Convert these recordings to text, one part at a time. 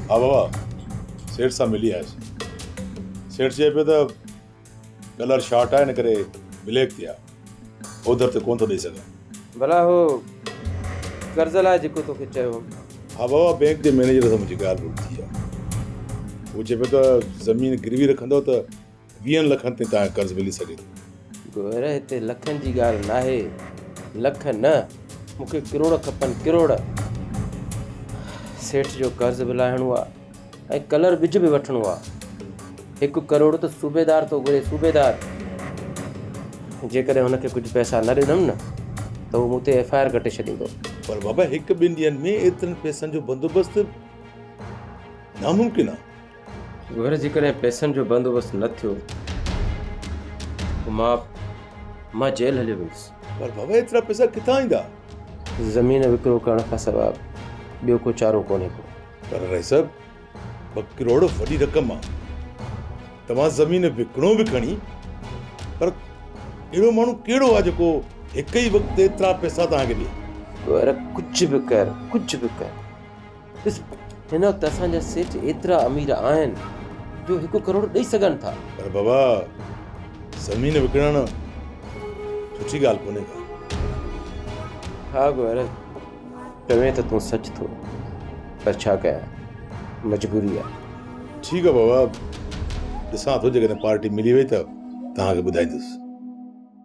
ها بابا، سيٺ سان ملي آيس. سيٺ چئي پيو ته ڪلر شارٽ آهي ان ڪري بليڪ تي آ. اوڌر تي ڪونه ٿو ڏئي سگهان. ڀلا هو قرض لاء جيڪو توکي چيو هوم. ها بابا، بئنڪ جي مئنيجر سان منهنجي ڳالهه ٻولهه ٿي آ. هو چئي پيو ته زمين گروي رکندؤ ته ويهن لکن تائين تنهنجو قرض ملي سگهي ٿو. گوهر هتي لکن جي ڳالهه ناهي لک نه مون کي ڪروڙ کپن ڪروڙ. سيٺ جو قرض به لاهڻو آ ۽ ڪلر ٻج به وٺڻو آ. هڪ ڪروڙ ته صوبيدار ٿو گهري صوبيدار. جيڪڏهن هن کي ڪجهه پئسا نه ڏنم نه ته هو مون تي ايف آء آر ڪٽي ڇڏيندو. پر بابا هڪ ٻن ڏينهن ۾ ايترن پئسن جو بندوبست ناممڪن آ. گهر جيڪڏهن پئسن جو بندوبست نه ٿيو ته مان مان جيل هليو ويندس پر بابا ايترا پئسا ڪٿان ايندا زمين وڪرو ڪرڻ کان سواء ٻيو ڪو چارو ڪونهي ڪو پر رئيس صاحب ٻه ڪروڙ وڏي رقم آ توهان زمين وڪڻو به کڻي پر اهڙو ماڻهو ڪهڙو آ جيڪو هڪ ئي وقت ايترا پئسا توهان کي ڏي پر ڪجهه به ڪر ڪجهه به ڪر ڏس هن وقت اسان جا سيٺ ايترا امير آهن جو هڪ ڪروڙ ڏئي سگهن ٿا. پر بابا زمين وڪڻڻ سٺي ڳالهه ڪونهي ڪا. ها گوهر چوين ته تون سچ ٿو پر ڇا ڪيان مجبوري آهي. ٺيڪ آهي بابا ڏسان ٿو جيڪڏهن پارٽي ملي وئي ته توهان کي ٻڌائيندس.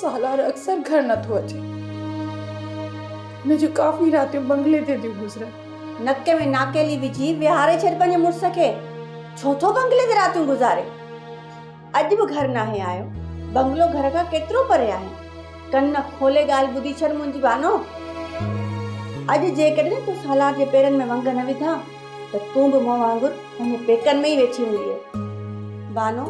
سالار اڪثر گهر نه ٿو اچي. هن جون ڪافي راتيون بنگلي تي ٿيون گذرن. نڪ ۾ ناڪيلي وجهي ويهاري ڇڏ پنهنجي مڙس کي. ڇو ٿو بنگلي تي راتيون گذاري؟ اڄ به گهر ناهي آيو. بنگلو گهر کان ڪيترو پري آهي. ڪن کولي ڳالهه ٻڌي ڇڏ منهنجي بانو. اڄ جيڪڏهن تو سالار جي پيرن ۾ ونگ نه وڌا. ته تون به مون وانگر پنهنجي پيڪن ۾ ئي ويٺي هوندينء. بانو،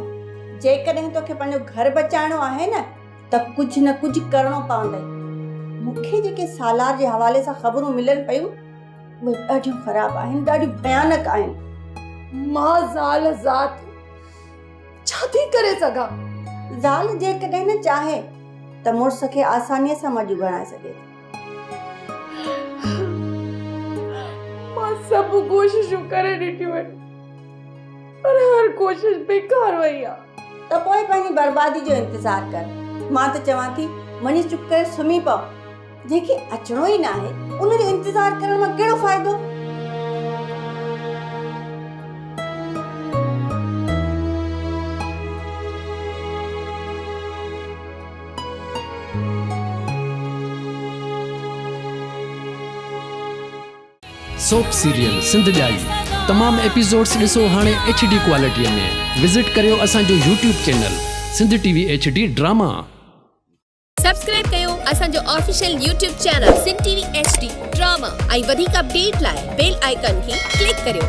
جيڪڏهن توکي پنهنجو گهر بچائڻو آهي نه ته ڪجهه نه ڪجهه ڪرڻو پوندئي. مون کي جيڪي سالار جي حوالي سان خبرون ملن پيون، اهي ڏاڍيون خراب آهن، ڏاڍيون ڀيانڪ آهن. مان زال ذات ڇا ٿي ڪري سگهان؟ زال جيڪڏهن چاهي ته مڙس کي آسانيء سان مڄو بڻائي سگهي ٿي. مان سڀ ڪوششون ڪري ڏٺيون آهن پر هر ڪوشش بيڪار وئي آهي. ته پوء پنهنجي بربادي جو انتظار ڪر. مان ته چوان ٿي وڃي چپ ڪري سمهي پو. جنهن کي اچڻو ئي ناهي ان جو انتظار ڪرڻ مان ڪهڙو فائدو؟ سوپ سيريل سنڌ ڄائي تمام ايپيسوڊس ڏسو هاڻي ايڇ ڊي ڪوالٽيء ۾ وزٽ ڪريو اسان جو YouTube channel Sindh T V H D drama. Subscribe ڪيو اسان جو official YouTube channel Sindh T V H D drama ۽ وڌيڪ اپڊيٽ لاء بيل آئيڪن کي ڪلڪ ڪريو.